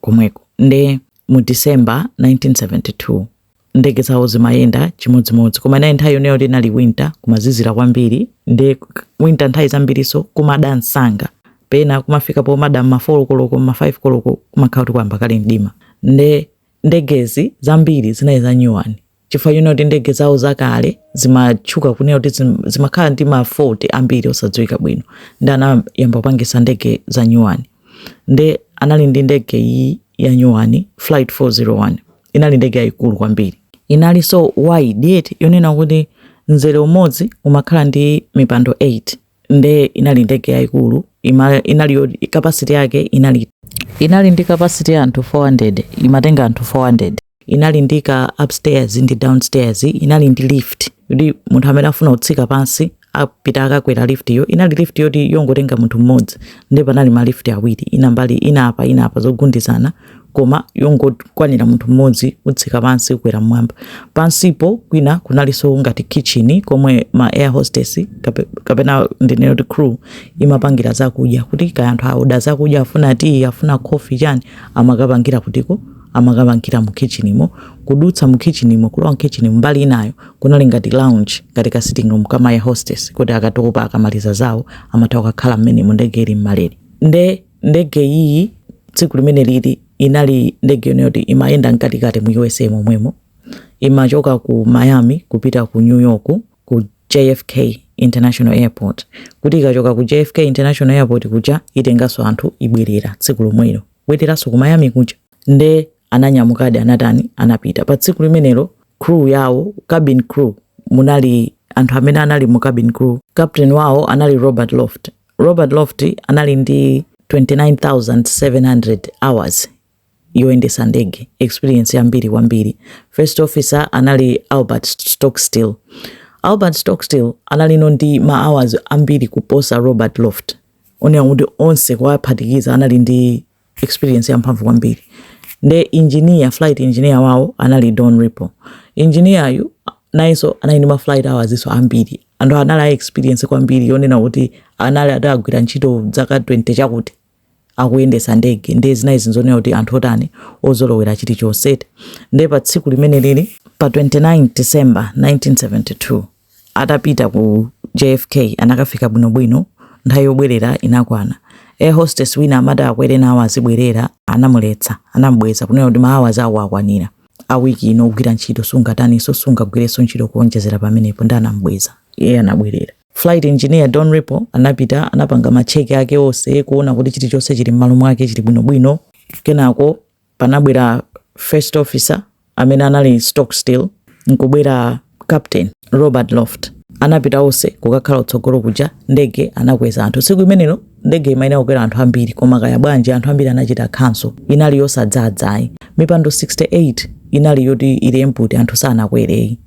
komweko nde mu december 1972 ndege zawo zimayenda chimodzimodzi koma inali nthawi yonena kuti inali winter kumazizira kwambiri nde winter nthawi zambiriso kumada msanga pena kumafika pomada mma 4 koloko mma 5 koloko kumakhala kuti kwayamba kale mdima nde ndegezi zambiri zinali za nyuwani chifukwa chonena kuti ndege zawo zakale zimatchuka kunena kuti zimakhala ndi ma fault ambiri osadziwika bwino nde anayamba kupangisa ndege za nyuwani nde anali ndi ndege iyi ya nyuwani flight 401 inali ndege yayikulu kwambiri inali inalinso wide yet yonena kuti mzere umodzi umakhala ndi mipando 8 nde inali ndege yaikulu ima- inali yo- capacity yake inali inali ndi capacity ya anthu 400 imatenga anthu 400 inali ndi ka upstairs ndi downstairs inali ndi lift yoti munthu amene afuna kutsika pansi apita akakwera lift yo inali lift yoti yongotenga munthu mmodzi nde panali ma lift awiri ina mbali ina apa ina apa zogundizana koma yongokwanira munthu mmodzi kutsika pansi kukwera mmwamba. Pansipo kwina kunalinso ngati kitchen komwe ma air hostess kape- kapena ndinene kuti crew imapangira zakudya kuti kaya anthu aoda zakudya afuna tiyi afuna coffee chani amakapangira kutiko amakapangira mu kitchenimo kudutsa mu kitchenimo kulowa mkitchen mbali inayo kunali ngati lounge ngati ka sitting room ka ma air hostess kuti akatopa akamaliza zawo amatha kukakhala mmenemo ndege ili mmalere nde ndege iyi tsiku limeneli inali ndege yonena kuti imayenda mkatikati mu usa momwemo imachoka ku miami kupita ku new york ku jfk international airport kuti ikachoka ku jfk international airport kuja itenganso anthu ibwerera tsiku lomwelo kubwereranso ku miami kuja nde ananyamukadi anatani anapita pa tsiku limenelo crew yawo cabin crew munali anthu amene anali mu cabin crew captain wawo anali robert loft Robert Loft anali ndi 29,700 hours yoyendesa ndege, experience yambiri kwambiri. First officer anali Albert Stockstill. Albert Stockstill analinso ndi ma hours ambiri kuposa Robert Loft. Zonena kuti onse kuwaphatikiza anali ndi experience yamphamvu kwambiri nde engineer flight engineer wao anali Don Repo engineer yu nayenso anali ndi ma flight hours nso ambiri anthu anali a experience kwambiri yonena kuti anali atagwira ntchito zaka 20 chakuti akuyendesa ndege nde zinali zinthu zonena kuti anthu otani ozolowera china chilichonse nde pa tsiku limeneli pa 29 December 1972 atapita ku JFK anakafika bwinobwino, nthawi yobwerera inakwana. Air hostess wina amati akwere nawo azibwerera, anamuletsa, anamubweza kunena kuti ma hours ako akwanira a week ino ogwira ntchito sungataninso sungagwirenso ntchito kuonjezera pamenepo nde anamubweza. Iye anabwerera. Flight engineer Don Repo anapita anapanga macheki ake onse kuona kuti chilichonse chili m'malo mwake chili bwinobwino. Kenako panabwera first officer amene anali Stockstill nkubwera captain robert loft anapita onse kukakhala utsogolo kuja ndege anakweza anthu tsiku imenelo ndege imayenera kukwera anthu ambiri koma kaya bwanji anthu ambiri anachita cancel inali yosadzadzayi mipando 68 inali yoti ili empty anthu sanakwereyi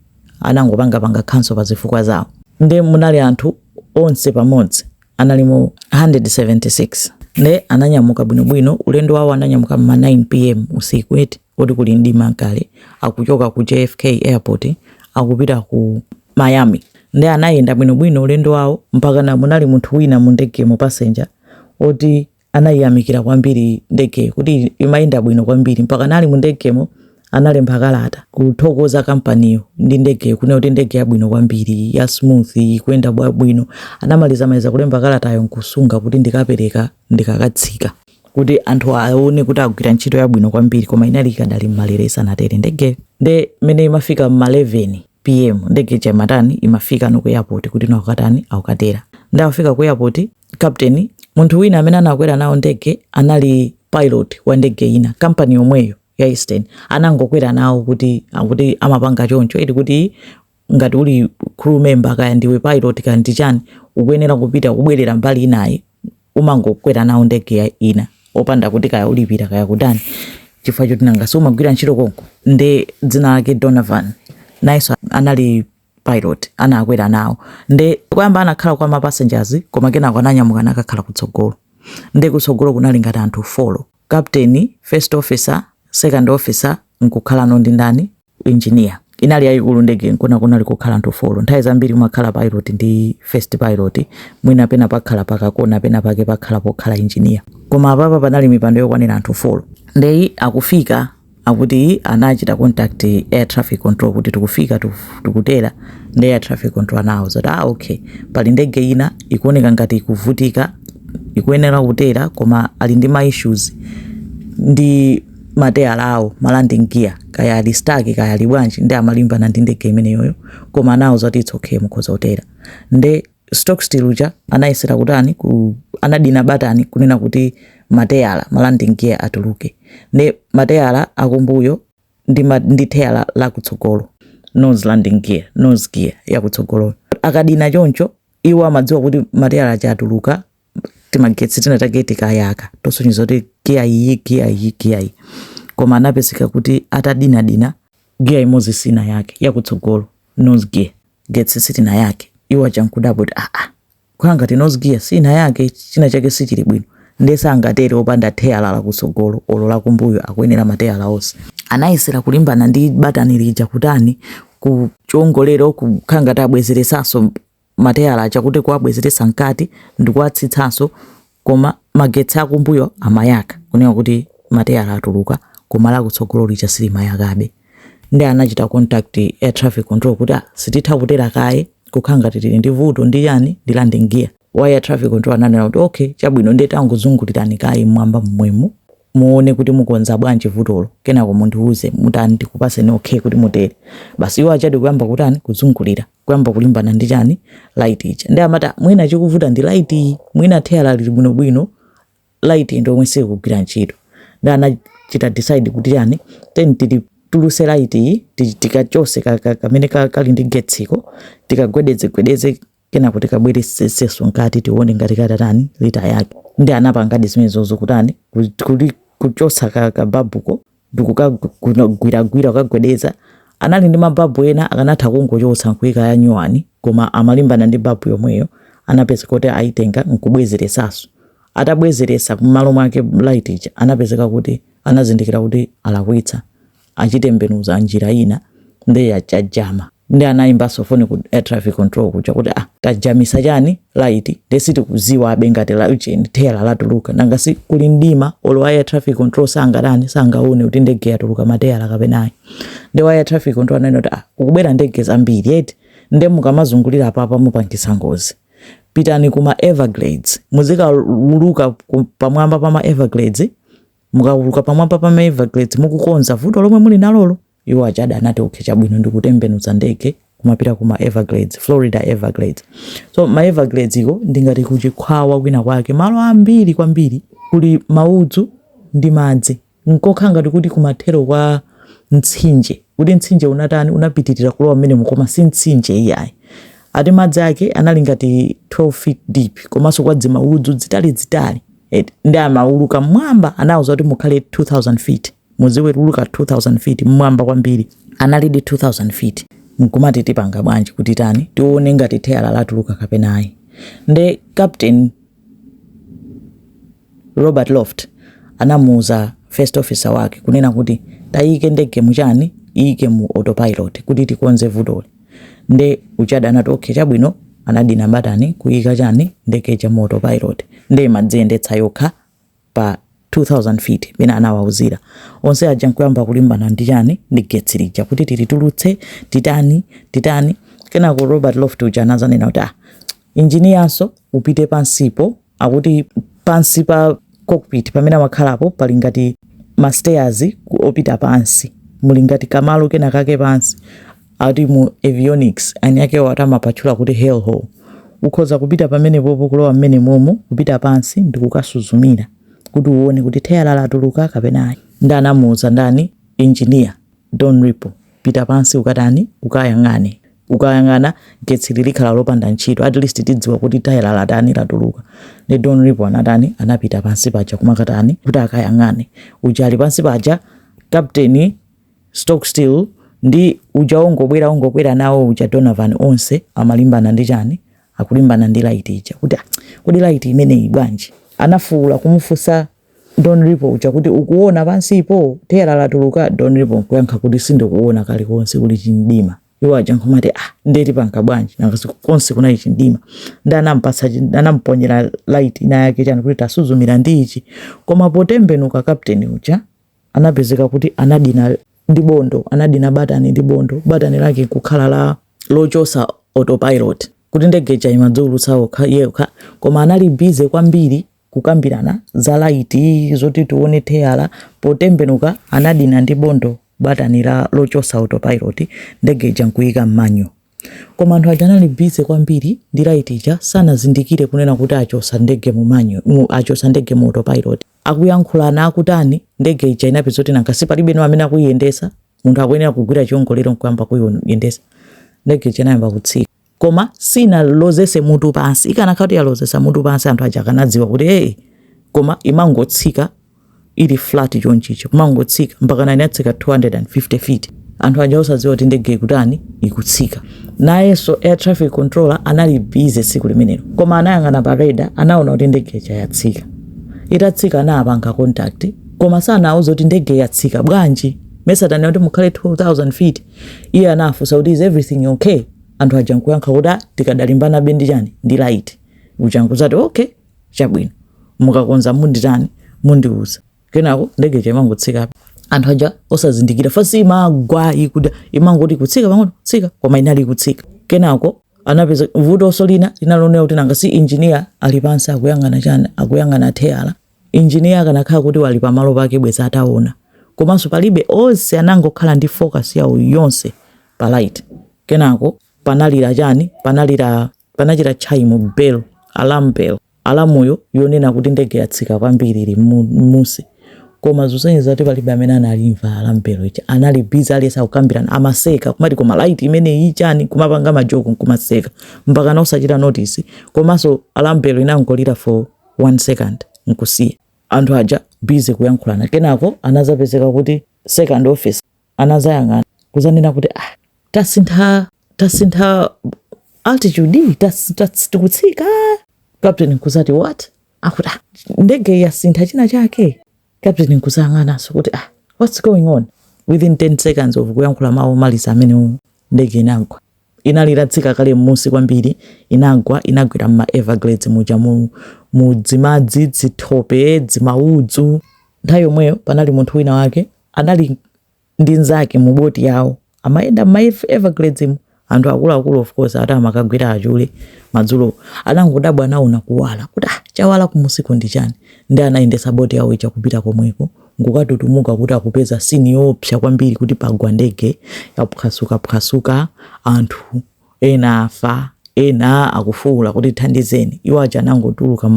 anangopangapanga cancel pa zifukwa zawo nde munali anthu onse pamodzi analimo 176 nde ananyamuka bwinobwino ulendo wawo ananyamuka mma 9 pm usiku eti koti kuli mdima nkale akuchoka ku jfk airport akupita ku miami nde anayenda bwinobwino ulendo wawo mpaka na munali munthu wina mu ndegemo passenger oti Anaiyamikira kwambiri ndegeyo kuti imayenda bwino kwambiri mpaka anali mu ndegemo analemba kalata kuthokoza kampaniyo ndi ndegeyo kunena kuti ndege yabwino kwambiri ya smooth ikuyenda bwinobwino. Anamalizamaliza kulemba kalatayo nkusunga kuti ndikapereka ndikakatsika kuti anthu aone kuti agwira ntchito yabwino kwambiri koma inali ikadali m'malere isanatere ndegeyo. Nde mmene imafika m'ma 11 pm ndege ija imatani imafika no ku airport kuti no akukatani akukatera. Nde akufika ku airport captain munthu wina amene anakwera nawo ndege anali pilot wa ndege ina kampani yomweyo ya eastern anangokwera nawo kuti akuti amapanga choncho eti kuti ngati uli crew member kaya ndiwe pilot kaya ndi chani ukuyenera kupita kubwerera mbali inayi umangokwera nawo ndege ina opanda kuti kaya ulipira kaya kutani chifukwa choti nanga si umagwira ntchito konko nde dzina lake donadeo nayenso anali pilot anakwera nawo nde kuyamba anakhala kwa ma passengers koma kenako ananyamuka anakakhala kutsogolo nde kutsogolo kunali ngati anthu folo captain first officer second officer nkukhalano ndi ndani engineer inali yayikulu ndege nkona kunali kukhala anthu folo nthawi zambiri umakhala pilot ndi first pilot mwina pena pakhala pakakona pena pake pakhala pokhala engineer koma apapa panali mipando yokwanira anthu folo ndeyi akufika akuti anachita contact air traffic control kuti tikufika tiku- tikutera nde air traffic control anawauza kuti ah okay pali ndege ina ikuoneka ngati ikuvutika ikuyenera kutera koma ali ndi ma issues ndi mateyala awo ma landing gear kaya ali stuck kaya ali bwanji nde amalimbana ndi ndege imeneyoyo koma anawauza kuti it's okay mukhoza kutera nde stockstill uja anayesera kutani ku, anadina batani kunena kuti mateyala malanding gear atuluke ndi mateyala akumbuyo ndi, ma, ndi teyala lakutsogolo nose landing gear nose gear yakutsogoloyo akadina choncho iwo amadziwa kuti mateyala aja atuluka timagetsi tina take tikayaka tosonyeza kuti giya iyi giya iyi giya iyi koma anapezeka kuti atadinadina giya imodzi sinayake yakutsogolo nose gear getsi sitinayake iwo aja nkudabwa kuti aa ah, ah, kukhala ngati nose gear sinayake china chake sichili bwino ndiye sangatere opanda teyala lakutsogolo olo lakumbuyo akuyenera mateyala onse anayesera kulimbana ndi batani lija kutani kuchongolera kukhala ngati abwezeresanso mateyala aja kuti kuwabwezeretsa mkati ndikuwatsitsanso koma magetsi akumbuyo amayaka kunena kuti mateyala atuluka koma lakutsogolo lija silimayakabe ndi anachita contact air traffic control kuti ah, sititha kutera kaye kukhala ngati tili ndi vuto ndi chani ndi landing gear wa air traffic control ananena kuti okay chabwino ndiye tangozungulirani kaye mmwamba mmwemu muone kuti mukonza bwanji vutolo kenako mundiuze mutani ndikupaseni okay kuti mutere basi iwo ajadi kuyamba kutani kuzungulira kuyamba kulimbana ndi chani light ija ndi amati mwina chikuvuta ndi light iyi mwina teyala lili bwinobwino light ndi yomwe sikugwira ntchito ndi anachita decide kuti chani tiyeni tilituluse light iyi tikachose kamene kali ndi getsiko tikagwedezegwedeze kenako tikabwereseseso nkati tione ngati katatani litayake ndi anapangadi zimenezozo kutani kuchotsa ka, ka babuko ndikukagwiragwira kukagwedeza anali ndi mababu ena akanatha kungochotsa nkuika ya nyuwani koma amalimbana ndi babu yomweyo anapezeka kuti ayitenga nkubwezeresaso atabwezeresa mmalo mwake light ija anapezeka kuti anazindikira kuti alakwitsa achitembenuza njira ina nde chajama nde anayimbanso foni ku air traffic control kuja kuti ah tajamisa chani laiti nde sitikuziwabe ngati laujeni teyala latuluka nanga si kuli mdima olo wa air traffic control sangatani sangaone kuti ndege yatuluka mateyala kapena ayi nde wa air traffic control ananena kuti ah ukubwera ndege zambiri eti nde mukamazungulira apapa mupangisa ngozi pitani kuma everglades muzikauluka ku- pamwamba pama everglades Mukauluka pamwamba pa ma Everglades mukukonza vuto lomwe muli nalolo, iwo ajadi anati okay, chabwino ndikutembenuza ndege kumapita ku ma Everglades, Florida Everglades. So ma Everglades iko ndingati kuchikhwawa kwina kwake, malo ambiri kwambiri kuli maudzu ndi madzi, nkokhala ngati kuti kumathero kwa mtsinje kuti mtsinje unatani unapitirira kulowa mmenemu koma si mtsinje iyayi ati madzi ake anali ngati 12 feet deep komanso kwa dzimaudzu dzitalidzitali et ndi amauluka mmwamba anauza kuti mukhale 2000 feet muziuluka 2000 feet mmwamba kwambiri analidi 2000 feet mkumati tipanga bwanji kuti tani tione ngati theyala latuluka kapena ayi nde captain robert loft anamuuza first officer wake kunena kuti tayike ndege muchani iyike mu autopilot kuti tikonze vutoli nde ujanso anati okay chabwino anadina batani kuyika chani ndege ija mu autopilot nde imadziyendetsa yokha pa 2000 feet pena anawauzira onse aja nkuyamba kulimbana ndi chani ndi getsi lija kuti tilitulutse titani titani kenako robert loft uja anazanena kuti ah injiniyanso upite pansipo akuti pansi pa cockpit pamene amakhalapo pali ngati ma stairs opita pansi muli ngati kamalo kena kake pansi ati mu avionics ani ake ati amapatchula kuti hell hole ukhoza kupita pamene popo kulowa mmene momo kupita pansi ndi kukasuzumira kuti uone kuti theyala latuluka kapena ayi ndi anamuuza ndani engineer don ripo pita pansi ukatani ukayang'ane ukayang'ana getsili likhala lopanda ntchito at least tidziwa kuti theyala latani latuluka ndi don ripo anatani anapita pansi paja kumakatani kuti akayang'ane uja ali pansi paja captain Stockstill ndi uja ongobwera ongokwera nawo uja donovan onse amalimbana ndi chani akulimbana ndi laiti ija kuti "Ah, kodi laiti imeneyi bwanji anafuwula kumufunsa Don Ripo uja kuti ukuona pansipo? Theyala latuluka? Don Ripo nkuyankha kuti sindikuona kalikonse kuli chimdima. Iwo aja nkumati ah, ndiye tipanga bwanji? Nanga si konse kunali chimdima. Ndi anampatsa anamponyera light ina yake chani kuti tasuzumira ndi ichi. Koma potembenuka kapteni uja anapezeka kuti anadina ndi bondo, anadina batani ndi bondo. Batani lake nkukhala la lochosa autopilot kuti ndege ija imadziulutsa yokha koma anali bize kwambiri kukambirana za laiti zoti tiwone theyala potembenuka anadina ndi bondo batani la lochosa autopilot ndege ija nkuika mmanual koma anthu aja anali bize kwambiri ndi laiti ija sanazindikire kunena kuti achosa ndege mu manual mu- achosa ndege mu autopilot akuyankhulana akutani ndege ija inapeza kuti nanga si palibe no amene akuyiyendesa munthu akuyenera kugwira chiongolero nkuyamba kuyiyendesa ndege ija inayamba kutsika koma sinalozese mutu pansi ikanakhala kuti yalozesa mutu pansi anthu aja akanadziwa kuti hey koma imangotsika ili flat chonchicho kumangotsika mpakana inatsika 250 feet anthu aja osadziwa kuti ndege kutani ikutsika nayenso air traffic controller anali busy tsiku limenelo koma anayang'ana pa radar anaona kuti ndege ija yatsika itatsika anapanga contact koma sanauza kuti ndege yatsika bwanji mesa ndinati mukhale 2000 feet Iye anawafunsa kuti is everything ok? Anthu aja nkuyankha kuti ah, tikadalimbanabe ndi chani ndi light. Uja nkuzati ok chabwino mukakonza munditani mundiuza. Kenako ndege ija imangotsikabe anthu aja osazindikira fasi imagwa ikuda imangoti kutsika pang'ono kutsika koma inali ikutsika kenako anapeza vuto so lina linalonera kuti nanga si injiniya ali pansi akuyang'ana chani akuyang'ana teyala Engineer akanakhala kuti wali pa malo pake bwezi ataona komanso palibe onse anangokhala ndi focus yawo yonse pa light kenako panalira chani panalira panachita chime bell alarm bell alamu yo yonena kuti ndege yatsika kwambiri ili mmu mmunsi koma zosonyeza kuti palibe amene analimva alarm bell ija anali busy aliyense akukambirana amaseka kumati koma light imeneyi ndi chani kumapanga ma joke nkumaseka mpakana osachita notice komanso alarm bell inangolira for 1 second nkusiya anthu aja busy kuyankhulana kenako anazapezeka kuti second office anazayang'ana kuzanena kuti ah tasintha tasintha altitude tikutsika captain nkuzati what akuti ah, ndege yasintha china chake captain nkuzayang'ananso kuti ah what's going on within 10 seconds of kuyankhula mawu omaliza amenewa ndege inagwa Inali itatsika kale mmunsi kwambiri, inagwa, inagwera mma Everglades muja, mu, mu dzimadzi, dzithope, dzimaudzu. Nthawi yomweyo, panali munthu winawake anali ndi mzake mu boti yawo, amayenda mma Everglades mu, anthu akuluakulu, of course, ati amakagwira achule madzulowo. Anangodabwa, anaona kuwala, kuti, Ah, chawala kumunsiko ndi chani? Ndiye anayendetsa boti yawo ija kupita komweko. nkukatutumuka kuti akupeza scene yoopsa kwambiri kuti pagwa ndege yaphwasukaphwasuka anthu ena afa ena akufuula kuti thandizeni iwo aja anangotuluka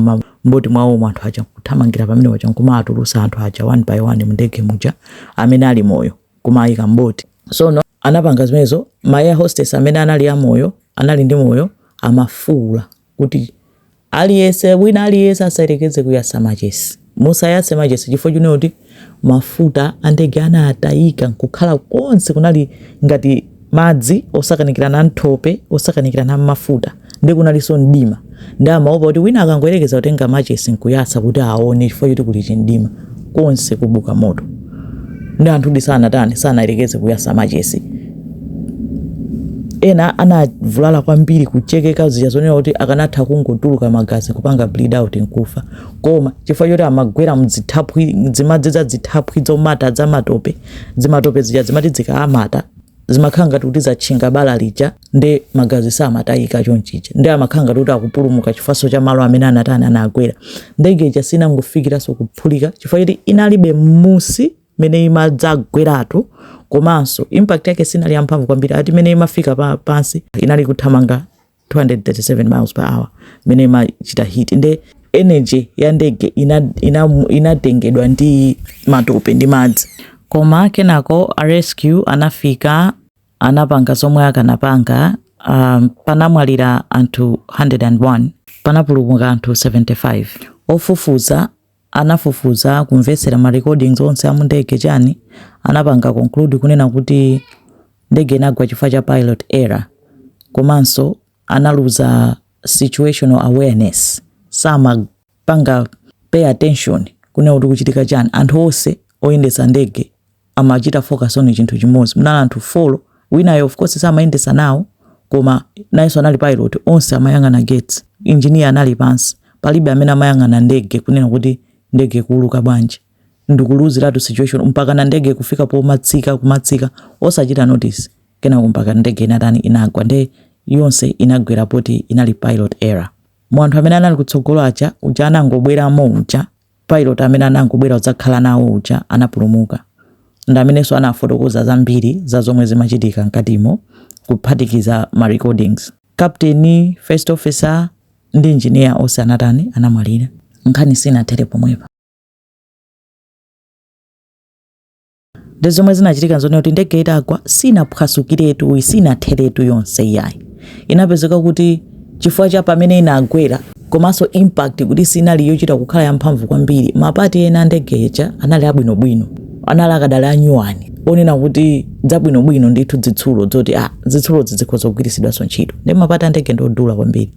mboti mwawomo anthu aja kuthamangira pamene paja nkumaatulusa anthu aja one by one mndege muja amene ali moyo kumayika mboti sono anapanga zimenezo ma air hostess amene anali amoyo anali ndi moyo amafuula kuti aliyense, wina aliyense asayerekeze kuyasa machesi. Musayase machesi chifukwa chonena kuti mafuta andege anatayika nkukhala konse kunali ngati madzi osakanikirana mthope osakanikirana mmafuta ndi kunalinso mdima ndi amaopa kuti wina akangoyerekeza kutenga machesi nkuyasa kuti aone chifukwa choti kuli chimdima. konse kubuka moto ndi anthudi sanatani sanayerekeze kuyasa machesi ena anavulala kwambiri kuchekeka zija zonena kuti akanatha kungotuluka magazi kupanga bleed out nkufa koma chifukwa choti amagwera mdzithaphwi dzimadzi za dzithaphwi dzomata dzamatope dzimatope zija dzimati dzikaamata zimakhala ngati kuti zatchinga bala lija nde magazi samatayika chonchicha nde amakhala ngati kuti akupulumuka chifukwa cha malo amene anatani anagwera ndege ija sinangofikiranso kuphulika chifukwa choti inalibe mmusi mene imadzagweratu komanso impact yake sinali yamphamvu kwambiri ati mene imafika pa, pansi inali kuthamanga 237 miles per hour mene imachita hit nde energy ya ndege inatengedwa ina, ina ndi matope ndi madzi koma kenako a rescue anafika anapanga zomwe akanapanga um, panamwalira anthu 101 panapulumuka anthu 75 ofufuza anafufuza kumvetsera ma recordings onse a mundege chani anapanga conclude kunena kuti ndege inagwa chifukwa cha pilot error komanso analuza situational awareness sama panga pay attention kunena kuti kuchitika chani anthu onse oyendetsa ndege amachita focus on chinthu chimodzi munali anthu folo winayo of course samayendetsa nawo koma nayenso anali pilot onse amayang'ana gates engineer anali pansi palibe amene amayang'ana ndege kunena kuti ndege kuuluka bwanji ndikuluuziratu situation mpaka na ndege kufika pomatsika kumatsika osachita notice kenako mpaka ndege inatani inagwa nde yonse inagwera poti inali pilot error mu anthu amene anali kutsogolo aja uja anangobweramo uja pilot amene anangobwera kudzakhala nawo uja anapulumuka ndi amenenso anafotokoza zambiri za zomwe zimachitika mkatimo kuphatikiza ma recordings captain first officer ndi engineer onse anatani anamwalira nkhani sinathere pomwepa ndi zomwe zinachitika nzone kuti ndege itagwa sinaphwasukiretu yayi sinatheretu yonse iyayi inapezeka kuti chifukwa cha pamene inagwera komanso impact kuti sinali yochita kukhala yamphamvu kwambiri mapati ena a ndege ija anali abwinobwino anali akadali anyuwani onena kuti zabwinobwino ndithu zitsulo zoti a zitsulo zikhoza kugwiritsidwanso ntchito ndi mapati a ndege ndi odula kwambiri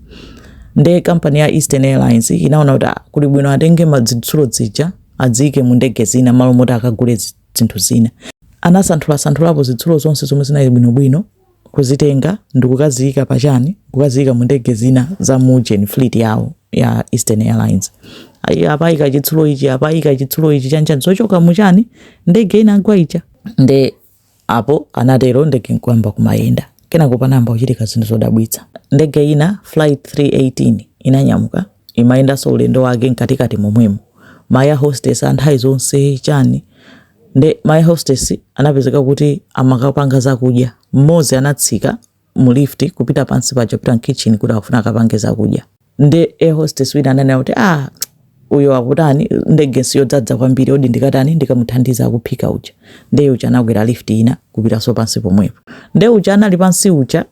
nde kampani ya eastern airlines inaona kuti ah, kuli bwino atenge mazitsulo zija aziike mu ndege zina malo moti akagule zinthu zina. Anasanthulasanthulapo zitsulo zonse zomwe zinali bwinobwino kuzitenga ndikukaziika pachani kukaziika mu ndege zina za mu ujeni fleet yawo ya Eastern Airlines. Apaika chitsulo ichi apaika chitsulo ichi chanchani zochoka muchani ndege inagwa ija nde Apo, anatero, ndege n'kuyamba kumayenda. Kenako panayamba kuchitika zinthu zodabwitsa. Ndege ina, Flight 318, inanyamuka, imayendanso ulendo wake mkatikati momwemo. Ma air hostess a nthawi zonse, chani. Nde ma air hostess anapezeka kuti amakapanga zakudya. Mmodzi anatsika mu lift kupita pansi paja kupita mkitchen kuti akufuna akapange zakudya nde air hostess wina ananena kuti ah uyo akutani ndege siyodzadza kwambiri odi ndikatani ndikamuthandiza kuphika uja nde uja anakwera lift ina kupitaso pansi pomwepo nde uja anali pansi uja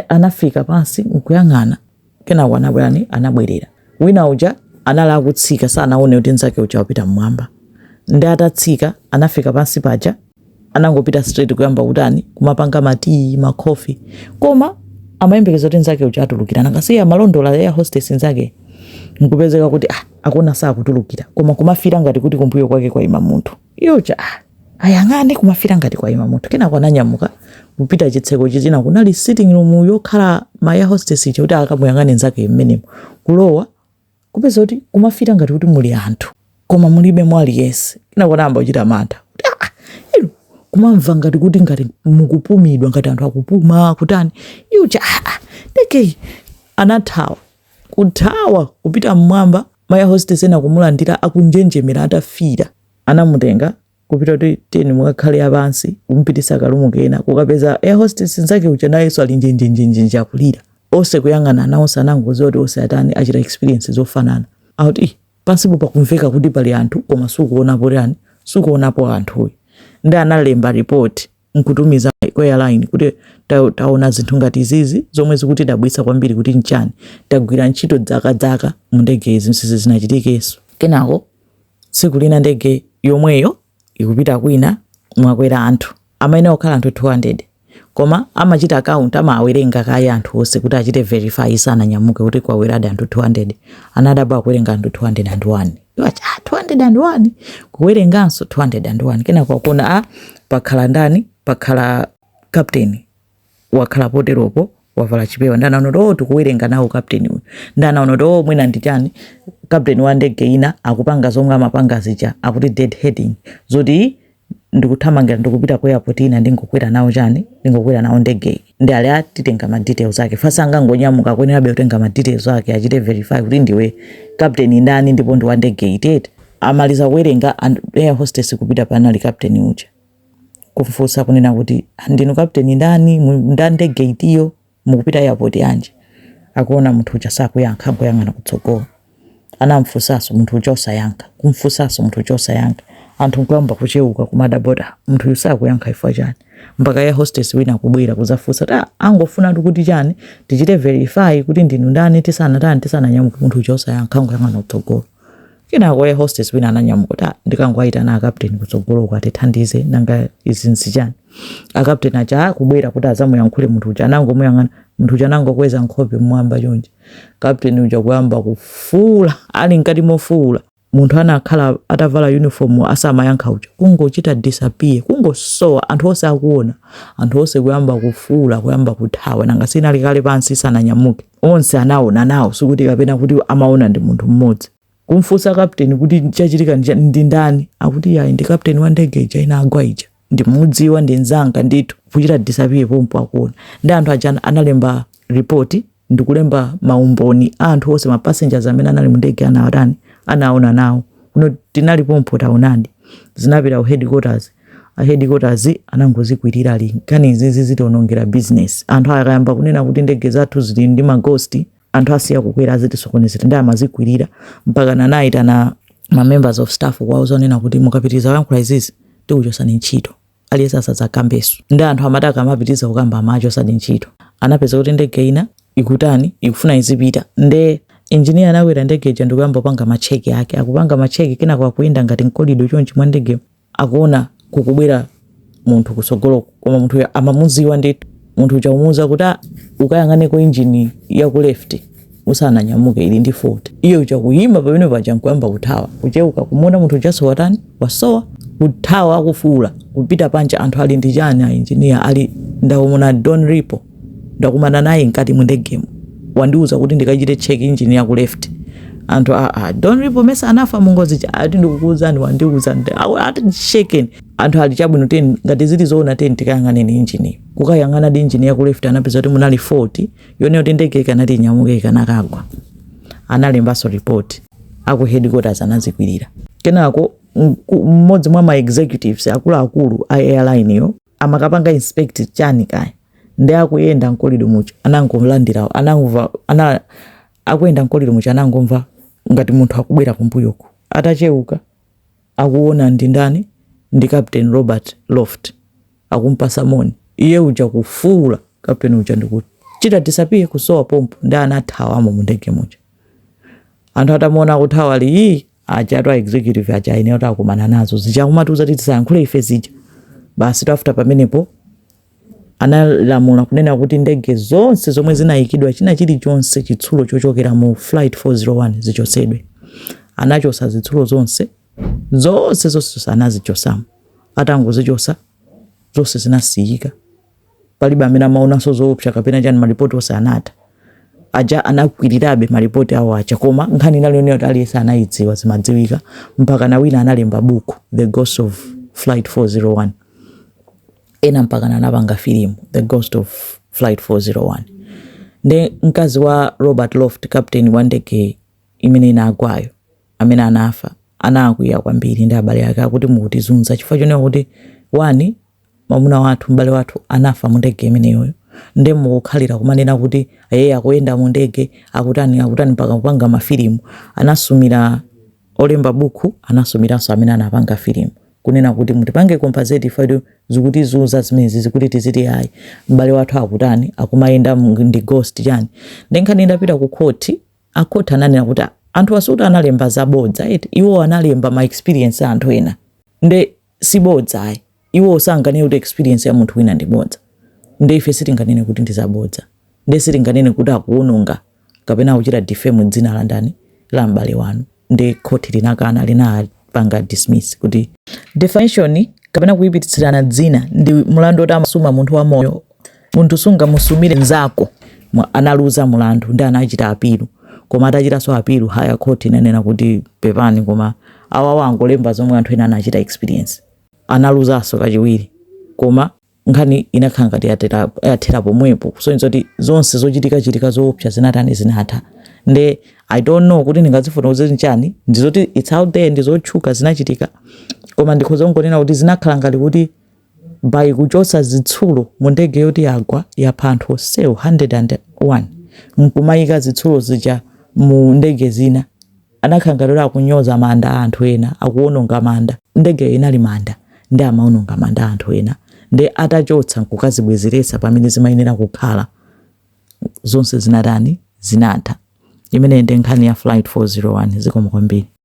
anafika pansi nkuyang'ana Kenako anabwelanji anabwelera wina uja anali akutsika sanaone kuti nzake uja wapita mmwamba nde atatsika anafika pansi paja anangopita straight kuyamba kutani kumapanga matii makofi koma amayembekeza kuti nzake uja atulukira nanga si amalondola air hostess nzake nkupezeka kuti ah, akuona sakutulukira koma kumafira ngati kuti kumbuyo kwake kwaima munthu iye uja ah, ayang'ane kumafira ngati kwayima munthu kenako ananyamuka kupita chitseko chizina kunali sitting room yokhala ma air hostess ija kuti akamuyang'ane nzake mmenemo kulowa kupeza kuti kumafira ngati kuti muli anthu koma mulibe mwa aliyense kenako anayamba kuchita mantha ah, kumamva ngati kuti ngati mukupumidwa ngati anthu akupuma kutani iye uja ah, ah, nde anathawa kuthawa kupita mmwamba Ma air hostess ena kumulandira akunjenjemera atafiira. Anamutenga kupita kuti tiyeni mukakhale pansi kumupitisa ka room kena kukapeza air hostess nzake uja nayenso ali njenjenjenjenje akulira. Onse kuyang'anana onse anangoziwa kuti onse atani achita experience zofanana. Akuti ih pansipo pakumveka kuti pali anthu koma sukuonapo chani sukuonapo anthu uyu nde analemba report. nkutumiza ku airline kuti taona zinthu ngati izizi zomwe zikutidabwitsa kwambiri kuti nchani tagwira ntchito zaka zaka mu ndege izi sizinachitikenso kenako tsiku lina ndege yomweyo ikupita kwina mwakwera anthu amayenera kukhala anthu 200 koma amachita count amawerenga kaye anthu onse kuti achite verify isananyamuke kuti kwakweradi anthu 200 anadabwa akuwerenga anthu 201 Wati, ah, 201 kuwerenganso 201 kenako akuona a pakhala ndani pakhala kapteni wakhala poteropo wavala chipewa nde anaona kuti oh tikuwerenga nawo kapteni uyu nde anaona kuti oh mwina ndi chani kapteni wa ndege ina akupanga zomwe amapanga zija akuti dead heading zoti ndikuthamangira ndikupita ku airport ina ndingokwera nawo chani ndingokwera nawo ndege nde ali atitenge ma details ake fast sangangonyamuka akuyenerabe kutenga ma details ake achite verify kuti ndiwe captain ndani ndipo ndi wa ndege iti iti amaliza kuwerenga air hostess kupita panali captain uja kumfunsa kunena kuti ndinu captain ndani ndi wa ndege itiyo Mukupita airport yanji? Akuona munthu uja sakuyankha angoyang'ana kutsogolo. Anamfunsanso munthu uja osayankha. Kumfunsanso munthu uja osayankha. Anthu nkuyamba kucheuka kumadabwa kuti ah munthuyu sakuyankha chifukwa chani? Mpaka air hostess wina kubwera kuzafunsa kuti ah tangofunatu kuti chani tichite verify kuti ndinu ndani tisanatani tisananyamuke munthu uja osayankha angoyang'ana kutsogolo. Kenako air hostess wina ananyamuka kuti "Ah, ndikangowaitana akapteni kutsogoloko atithandize nanga izi nzichani. Akapteni aja akubwera kuti adzamuyankhule munthu uja anangomuyang'ana munthu uja anangokweza nkhope mmwamba chonchi. Kapteni uja kuyamba kufuula ali mkati mofuula munthu anakhala atavala uniform asamayankha uja kungochita disappear kungosowa anthu onse akuona anthu onse kuyamba kufuula kuyamba kuthawa nanga sinali kale pansi sananyamuke. onse anaona nawo sikuti kapena kuti amaona ndi munthu mmodzi kumfunsa kapteni kuti chachitika ndi cha- ndi ndani akuti yayi ndi kapteni wa ndege ija inagwa ija ndimudziwa ndi mzanga ndithu kuchita disappear pompo akuona nde anthu aja analemba ripoti ndikulemba maumboni a anthu onse mapassengers amene anali mu ndege anawatani anaona nawo kuno tinali pompo taonadi zinapita ku headquarters a headquarters anangozikwirira ali nkhani izizi zitionongera business anthu akayamba kunena kuti ndege zathu zili ndi maghost anthu asiya kukwera azitisokonezera nde amazikwirira mpakana anayitana ma members of staff kuwauza kunena kuti mukapitiriza kuyankhula izizi tikuchosani ntchito aliyense asadzakambenso nde anthu amati akamapitiriza kukamba amachosadi ntchito anapeza kuti ndege ina ikutani ikufuna izipita nde injiniya anakwera ndege ija ndikuyamba kupanga macheki ake akupanga macheki kenako akuyenda ngati mkolido chonchi mwa ndege akuona kukubwera munthu kusogoloku koma munthu uja amamuziwa ndithu munthu uja kumuuza kuti "Ah, ukayang'aneko injini ya ku left usananyamuke ili ndi fault iye uja kuyima pamene paja nkuyamba kuthawa kucheuka kumuona munthu ujaso watani wasowa kuthawa akufuula kupita panja anthu ali ndi chani a injiniya ali ndamuona don repo ndakumana naye mkati mu ndegemo wandiuza kuti ndikachite check engine ya ku left anthu aa ah, ah, don repo mesa anafa mungozi ija ati ndikukuuzani wandiuza ali shaken anthu ali chabwino tiyeni ngati zili zoona tiyeni tikayang'aneni injini kukayang'anadi injini ya ku left anapeza kuti munali fault yonena kuti ndege ikanati inyamuke ikanakagwa analembanso report aku headquarters anazikwirira kenako mmodzi mwa ma executives akuluakulu a airline yo amakapanga inspect chani kaya nde akuyenda mkolido muja anangolandirawo anangomva ana akuyenda mkolido muja anangomva ngati munthu akubwera kumbuyoko atacheuka akuona ndi ndani ndi captain robert loft akumpasa moni iye uja kufuula captain uja ndikuchita disappear kusowa pompo ndiye anathawamo mu ndege muja anthu atamuona akuthawa ali iyi ajatu a executive aja ayenera kuti akumana nazo zija kumatiuza kuti tisayankhule ife zija basi after pamenepo analamula kunena kuti ndege zonse zomwe zinayikidwa china chilichonse chitsulo chochokera mu flight 401 zichosedwe anachosa zitsulo zonse zonse zonse anazichosamo atangozichosa zonse zinasiyika palibe amene amaonanso zoopsa kapena chani malipoti onse anatha aja anakwirirabe malipoti awo aja koma nkhani inali yonena kuti aliyense anayidziwa zimadziwika mpaka na wina analemba buku the ghost of flight 401 ena mpaka na anapanga filimu the ghost of flight 401 nde mkazi wa robert loft captain wa ndege imene inagwayo amene anafa anakwiya kwambiri ndi abale ake akuti mukutizunza chifukwa chonena kuti wani mwamuna wathu m'bale wathu anafa mu ndege imeneyoyo nde mukukhalira kumanena kuti ee akuyenda mu ndege akutani akutani mpaka kupanga mafilimu anasumira olemba buku anasumiranso amene anapanga filimu kunena kuti mutipange compensate ifetu zikutizunza zimenezi zikuti tizuti ayi m'bale wathu akutani akumayenda mu- ndi ghost chani nde nkhani indapita ku khoti akhoti ananena kuti "Ah, anthu awa sikuti analemba zabodza eti iwo analemba ma experience a anthu ena nde sibodza ayi iwowo sanganene kuti experience ya munthu wina ndi bodza nde ife sitinganene kuti ndi zabodza nde sitinganene kuti akuwononga kapena kuchita defame dzina la ndani la m'bale wanu nde khoti linakana linapanga dismiss kuti defamation kapena kuyipitsirana dzina ndi mlandu woti amasuma munthu wamoyo munthu sungamusumire nzako analuza mulandu ndi anachita apilu koma atachitanso apilu higher court inanena kuti pepani koma awawo angolemba zomwe anthu ena anachita experience analuzanso kachiwiri koma nkhani inakhala ngati yathera pomwepo kusonyeza kuti zonse zochitika chitika zoopsa zinatani zinatha nde i don't know kuti ndingazifotokoze kuti nchani ndizoti it's out there ndizotchuka zinachitika koma ndikhoza kungonena kuti zinakhala ngati kuti by kuchotsa zitsulo mu ndege yoti yagwa yapha anthu onsewo 101 nkumaika zitsulo zija mu ndege zina anakhala ngati kuti akunyoza manda a anthu ena akuononga manda ndegeyo inali manda ndi amaononga manda a anthu ena ndi atachotsa nkukazibwezeretsa pamene zimayenera kukhala zonse zinatani zinatha imeneyi ndi nkhani ya flight 401 zikomo kwambiri